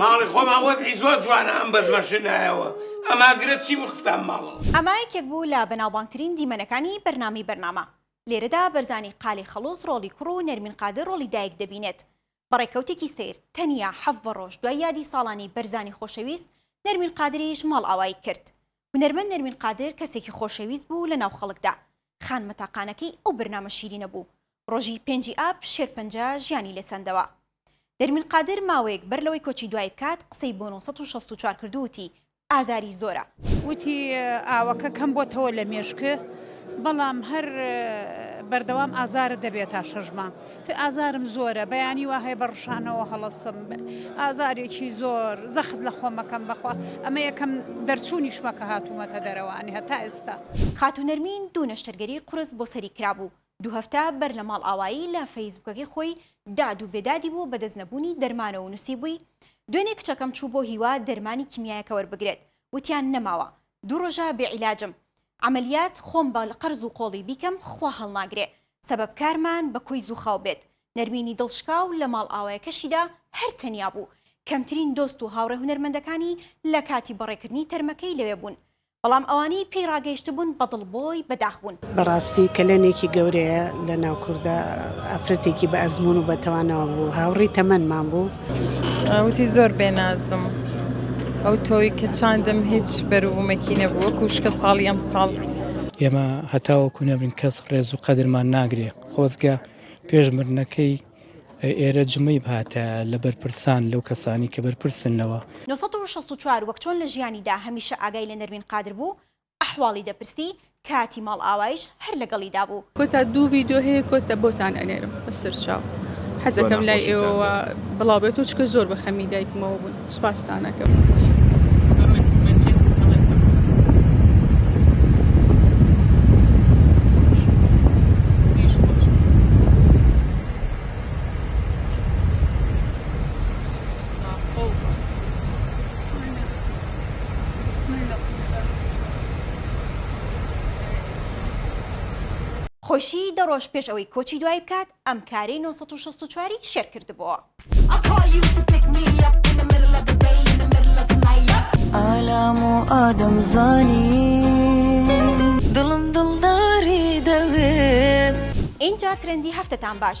ماڵی خۆمان وەزعی زۆر جوانە ئەم بەزمە شنایەوە ئەما گرە چی بوو خستام ماڵەوە. ئەمە یەکێک بوو لە بەناوبانگترین دیمەنەکانی بەرنامەی بەرنامە، لێرەدا بەرزانی قالی خەڵوز ڕۆڵی کوڕ و نەرمین قادر ڕۆڵی دایک دەبینێت. بە ڕێکەوتێکی سەیر، تەنیا حەڤە ڕۆژ دوای یادی ساڵانی بەرزانی خۆشەویست، نەرمین قادریش ماڵئاوایی کرد. هونەرمەند نەرمین قادر کەسێکی خۆشەویست بوو لە ناو خەڵکدا، خانمە تاقانەکەی ئەو بەرنامە شیرینە بوو، ڕۆژی پێنجی ئاب شێرپەنجە ژیانی لێ سەندەوە. نەرمین قادر ماوەیەک بەر لەوەی کۆچی دوایی بکات قسەی بۆ نۆ سەد و شەست و چوار کرد و وتی، ئازاری زۆرە. وتی، ئاوەکە کەم بۆتەوە لە مێشکت، بەڵام هەر بەردەوام ئازارت دەبێت تا شەش مانگ. تئ ئازارم زۆرە بەیانی وا هەیە بە ڕشانەوە هەڵەسم ئازارێکی زۆر زەخت لە خۆمەکەم بەخوا ئەمە یەکەم دەرچوونیشمە کە هاتوومەتە دەرەوە ئەنی هەتا ئێستا. خاتوو نەرمین دوو نەشتەرگەری قورس بۆ سەری کرابوو، دوو هەفتە بەر لە ماڵئاوایی لە فەیسبووکەکەی خۆی داد و بێدادی بوو بە دەست نەبوونی دەرمانەوە و نووسیبووی، دوێنێ کچەکەم چوو بۆ هیوا دەرمانی کیمیایەکە وەربگرێت وتیان نەماوە، دوو ڕۆژە بێ عیلاجم، عەمەلیات خۆم بە قەرز و قۆڵی بیکەم خوا هەڵناگرێ سەبەب کارمان بە کۆی زووخاو بێت نەرمینی دڵ شکا و لە ماڵئاوایەکەشیدا هەر تەنیا بوو کەمترین دۆست و هاوڕێ هونەرمەندەکانی لە کاتی بەڕێکردنی تەرمەکەی لەوێ بوون بەڵام ئەوانەی پێی ڕاگەیشتبوون بە دڵ بۆی بە داخ بوون. بەڕاستی کەلێنێکی گەورەیە لە ناو کوردا ئافرەتێکی بە ئەزموون و بە تواناوە بوو هاوڕێی تەمەنمان بوو، وتی زۆر بێ نازم ئەو تۆی کە چاندم هیچ بەروومەکی نەبوو وەکو شکە ساڵی ئەم ساڵ ئێمە هەتاوەکو نەبرین کەس ڕێز و قەدرمان ناگرێ خۆزگە پێش مردنەکەی ئێرە جمەی بهاتە لە بەرپرسان لەو کەسانی کە بەرپرسن لەوە. نۆ سەد و شەست و چوار وەک چۆن لە ژیانیدا هەمیشە ئاگای لە نەرمین قادر بوو، ئەحواڵی دەپرسی کاتی ماڵئاوایش هەر لەگەڵیدا بوو. کۆتا دوو ڤیدیۆ هەیە کۆتا بۆتان ئەنێرم بە سەرچاو حەزەکەم لای ئێوەوە بڵاو بێتەوە چکە زۆر بە خەمی دایکمەوە بوون سوپاستانەکەم. خۆیشی دە ڕۆژ پێش ئەوەی کۆچی دوایی بکات ئەم کارەی نۆ سەد و شەست و چوار ی شێر کردبۆوە. ئالام و ئادەم زانی دڵم دڵداری دەوێت. ئینجا ترێندی هەفتەتان باش.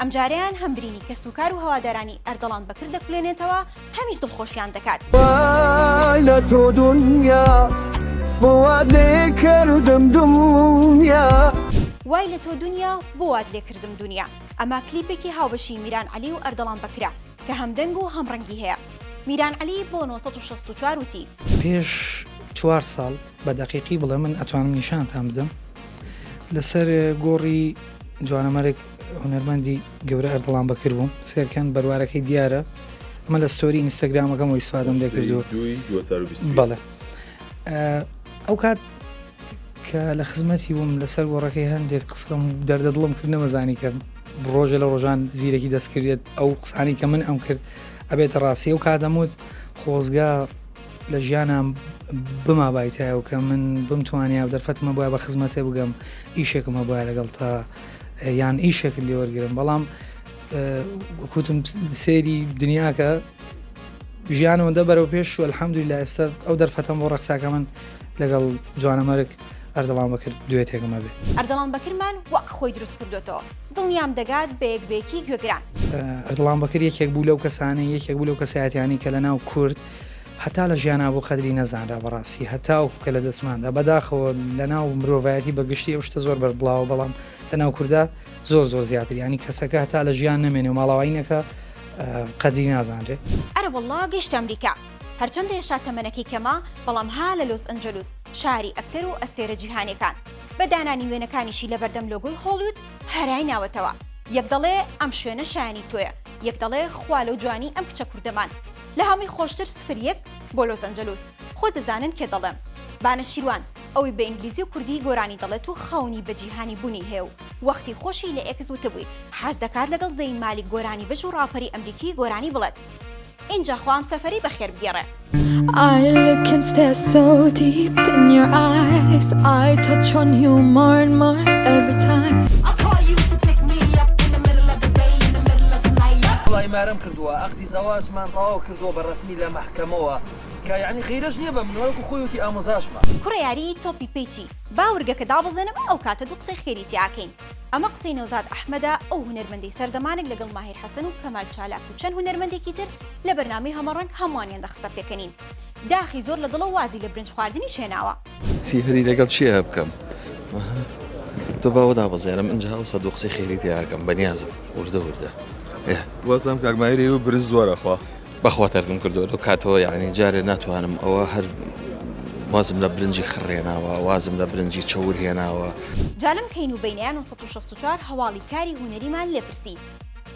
ئەمجارەیان هەم برینی کەسوکار و هەوادارانی ئەردەڵان بەکر دەکولێنێتەوە، هەمیش دڵخۆشیان دەکات. وای لە تۆ دونیا بۆ وات لێ کردم دونیا. وای لە تۆ دونیا بۆ وات لێ کردم دونیا ئەمە کلیپێکی هاوبەشی میران عەلی و ئەردەڵان بەکرە کە هەم دەنگ و هەم ڕەنگی هەیە میران عەلی بۆ نۆ سەد و شەست و چوار وتی. پێش چوار ساڵ بە دەقیقی بڵێ من ئەتوانم نیشانتان بدەم لەسەر گۆڕی جوانەمەرگ. هونەرمەندی گەورە ئەردڵان بەکر بووم سێرکەن بەروارەکەی دیارە ئەمە لە ستۆری ئینستاگرامەکەم و ئیسفادەم دەکردو بەڵێ ئەو کات کە لە خزمەتی بووم لەسەر گۆڕەکەی هەندێک قسەم دەردە دڵم کرد نەمەزانی کە ڕۆژە لە ڕۆژان زیرەکی دەستکردێت ئەو قسانی کە من ئەم کرد ئەبێتە ڕاستی و کادەموت خۆزگە لە ژیانم بما بایتایەوە کە من بمتوانیا و دەرفەتمە بە بە خزمەتێ بگەم ئیشێکم هەبە لەگەڵ تا یان ئیشێکت لێ وەرگرم بەڵام کوتم سێری دنیاکە ژیانەوە دە بەرەو پێش و الحەمدوی لە ئێستا ئەو دەرفەتەم بۆ ڕەخساکە من لەگەڵ جوانەمەرگ ئەردەڵام بەکرد دوێتێکمە بێ ئەردەڵام بەکرمان وەک خۆی دروست کردوێتەوە دڵنیام دەگات بە یەکبێکی گوێگران ئەردڵام بەکر یەکێک بوو لەو کەسانەی یەکێک بوو لەو کەسایەتیانی کە لە ناو کورد هەتا لە ژیانا بوو قەدری نەزانرا بەڕاستی هەتاوەکو کە لە دەستماندا بەداخەوە لە ناو مرۆڤایەتی بە گشتی ئەو شتە زۆر بەربڵاوە بەڵام لە ناو کووردا زۆر زۆر زیاتر ینی کەسەکە هەتا لە ژیان نەمێنێ و ماڵاوایی نەکا قەدری نازانرێ. ئەرە واللە گەیشتە ئەمریکا هەرچەندە هێشتا تەمەنەکەی کەمە بەڵام ها لە لۆس ئەنجەلوس شاری ئەکتەر و ئەستێرە جیهانیەکان بە دانانی وێنەکانیشی لە بەردەم لۆگۆی هۆڵیود هەرای ناوەتەوە یەک دەڵێ ئەم شوێنە شایەنی تۆیە یەک دەڵێ خوا لەو جوانی ئەم کچە کوردەمان لە هەمووی خۆشتر سفر یەک بۆ لۆس ئەنجەلوس خۆ دەزانن کێ دەڵێم با نەشیروان ئەوی بە ئینگلیزی و کوردی گۆرانی دەڵێت و خەونی بە جیهانی بونی هەیە و وەختی خۆشی لە ئێکس وتبوی حەز دەکات لەگەڵ زەین مالیک گۆرانی بژ و ڕاپەری ئەمریکی گۆرانی بڵێت ئینجا خوا ئەمسەفەری بەخێر بگێڕێ. ئای لوکن ستێ سۆ دیپ ئین یۆر ئایس ئای تۆ چۆن یو مۆرن مۆر ئێڤری تایم. ئەڵای مارم کردوە ئەق. زەواجمان تەواو کردوە بە ڕەسمی لە مەحکەمەوە کە یەعنی غیرەش نیە بە من وەکو خۆی وتی ئامۆزاشمە. کوڕە یاری تۆپی پێی چی با ورگەکە دابەزێنم ئەو کاتە دوو قسەی خێری تیا کەین. ئەمە قسەی نەوزاد ئەحمەدە ئەو هونەرمەندەی سەردەمانێک لەگەڵ ماهیر حەسەن و کەمال چالاک و چەند هونەرمەندێکی تر لە بەرنامەی هەمەڕەنگ هەمووانیان دەخستە پێکەنین داخی زۆر لە دڵە و وازی لە برنج خواردنیش هێناوە. چی هەری لەگەڵ چیە بکەم تۆ باوە دابەزێنم ئەجا ئەو سەد قسەی خێری تیاکەم بەنیازم وردە وردە وەزم کاکمایری و برز زۆرەخوا بەخوا تەرکم کردو لەو کاتەوە یعنی جارێ ناتوانم ئەوە هەر وازم لە برنجی خڕێناوە وازم لە برنجی چەور هێناوە جالەم کەین و بینیان 1964 هەواڵی کاری هونەریمان لێپرسی.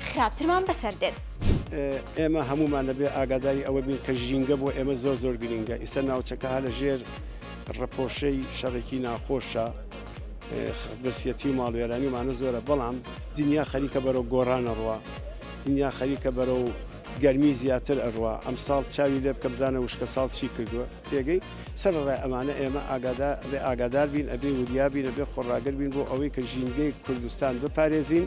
خراپترمان بەسەر دێت. ئێمە هەموومان دەبێ ئاگاداری ئەوە بین کە ژینگە بۆ ئێمە زۆر زۆر گرینگە ئیسە ناوچەکە هە لە ژێر ڕپۆشەی شەڕێکی ناخۆشە برسیەتی و ماڵوێرانیمانە زۆرە بەڵام دنیا خەریکە بەرەو گۆڕانە ڕوە دنیا خەریکە بەرە و گەرمی زیاتر ئەڕوا ئەم ساڵ چاوی لێ بکە بزانە وشکە ساڵ چی کردووە تێگەی سەر ڕای ئەمانە ئێمە ئاگادا بێ ئاگادار بین ئەبێ وریابینە بێ خۆڕاگر بین بۆ ئەوەی کە ژینگەی کوردستان بپارێزین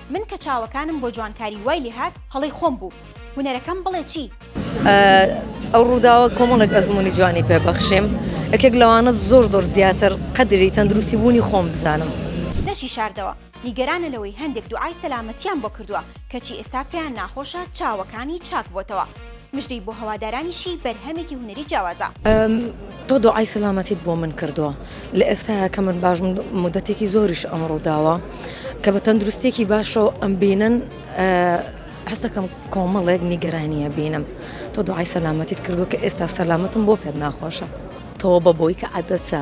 من کە چاوەکانم بۆ جوانکاری وای لێ هات هەڵەی خۆم بوو هونەرەکەم بڵێ چی؟ ئەو ڕووداوە کۆمەڵێک ئەزمموی جوانی پێبەخشێم یەکێک لەوانە زۆر زۆر زیاتر قەدری تەندروستی بوونی خۆم بزانم. لەشی شاردەوە نیگەرانە لەوەی هەندێک دوعای سەلامەتیان بۆ کردووە کەچی ئێستا پێیان ناخۆشە چاوەکانی چاک بۆتەوە. مژدەی بۆ هەوادارانیشی بەرهەمێکی هونەری جیاوازە. تۆ دوعای سەلامەتیت بۆ من کردووە لە ئێستایا کە من باش مدەتێکی زۆریش ئەم ڕووداوە کە بە تەندروستێکی باشەوە ئەم بینن حستەکەم کۆمەڵێک نیگەرانیە بینم تۆ دوعای سەلامەتیت کردو کە ئێستا سەلامەتم بۆ پێت ناخۆشە تەوە بە بۆی کە عادەسە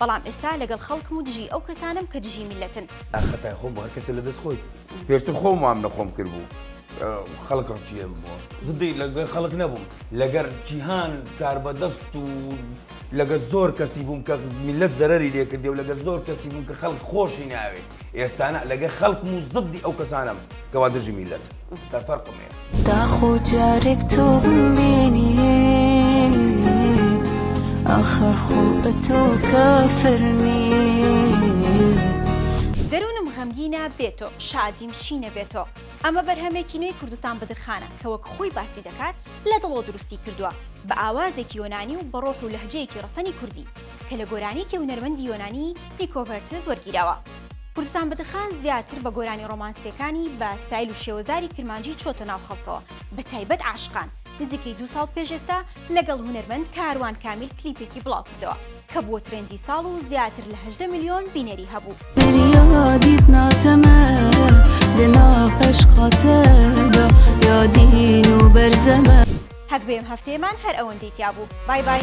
بەڵام ئێستا لەگەڵ خەڵکم و دژی ئەو کەسانەم کە دژی میللەتن. ئاخ خەتای خۆم بوو هەر کەسێ لە دەست خۆی پێشتر خۆم وام لە خۆم کرد بوو خەڵک ڕقی لێم ببووە زدی لەگەر خەڵک نەبووم لەگەر جیهان کاربەدەست و لەگەر زۆر کەسی بووم کە میللەت زەرەری لێ کردی و لەگەر زۆر کەسی بووم کە خەڵک خۆشی ناوێ. ئێستانە لەگە خەڵکم و زدی ئەو کەسانم کەوا دژی میلەت ستا فەرقمێ داخۆ جارێک تۆ بینی ئاخر خۆ بە تۆ کافرنی دەروونم غەمگینە بێ تۆ شادیم شینە بێ تۆ ئەمە بەرهەمێکی نوێی کوردستان بدرخانە کە وەک خۆی باسی دەکات لە دڵۆ دروستی کردووە بە ئاوازێکی یۆنانی و بە ڕۆح و لەهجەیەکی ڕەسەنی کوردی کە لە گۆرانیکی هونەرمەندی یۆنانی پیکۆ ڤێرتز وەرگیراوە. کوردستان بەدرخان زیاتر بە گۆرانی ڕۆمانسییەکانی بە ستایل و شێوەزاری کرمانجی چۆتە ناو خەڵکەوە بە تایبەت عاشقان. نزیکەی دوو ساڵ پێش ئێستا لەگەڵ هونەرمەند کاروان کامیل کلیپێکی بڵاوکردەوە کە بووە ترێندی ساڵ و زیاتر لە هەژدە ملیۆن بینەری هەبوو. هەک بێم هەفتەیەمان هەر ئەوەندەی تیابوو بای بای.